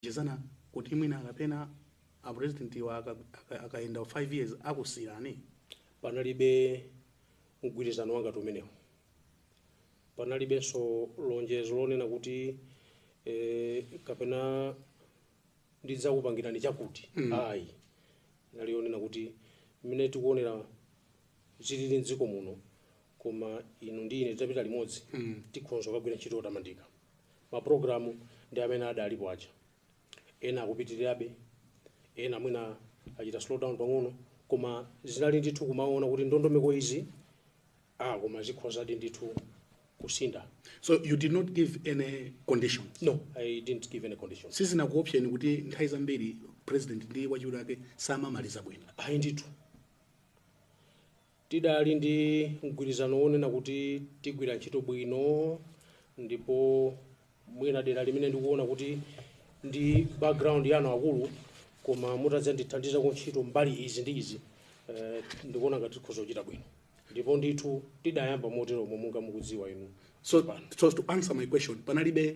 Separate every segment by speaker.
Speaker 1: munalonjezana kuti mwina kapena a president wa akayenda 5 years akusiyirani?
Speaker 2: Panalibe mgwirizano wangati umenewo. Panalibenso lonjezo lonena kuti kapena ndidzakupangirani chakuti ayi. Inali yonena kuti mmene tikuonera zilili m'dziko muno koma inu ndi ine titapita limodzi tikhonza kukagwira ntchito yotamandika. Ma program ndi amene adalipo aja. Ena akupitirirabe, ena mwina achita slow down pang'ono, koma zinali ndithu kumaona kuti ndondomeko izi, ah koma zikhozadi ndithu kusintha. So you did
Speaker 1: not give any conditions? No, I didn't
Speaker 2: give any conditions. Sizinakuopseni kuti
Speaker 1: nthawi zambiri president ndi wachiwiri wake samamaliza bwino? Ayi ndithu.
Speaker 2: Tidali ndi mgwirizano wonena kuti tigwira ntchito bwino ndipo mwina dera limene ndikuona kuti ndi background yanu akulu koma mutadzandithandiza ku ntchito mbali izi ndi izi eh, ndikuona ngati tikhoza kuchita bwino ndipo ndithu tidayamba moteromo monga mukudziwa inu So, so
Speaker 1: to answer your question, panalibe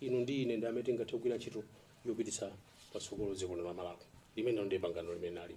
Speaker 2: inu ndi ine ndi amene tingathe kugwira ntchito yopititsa patsogolo dziko lino la Malawi. Limenelo ndi pangano limene linalipo.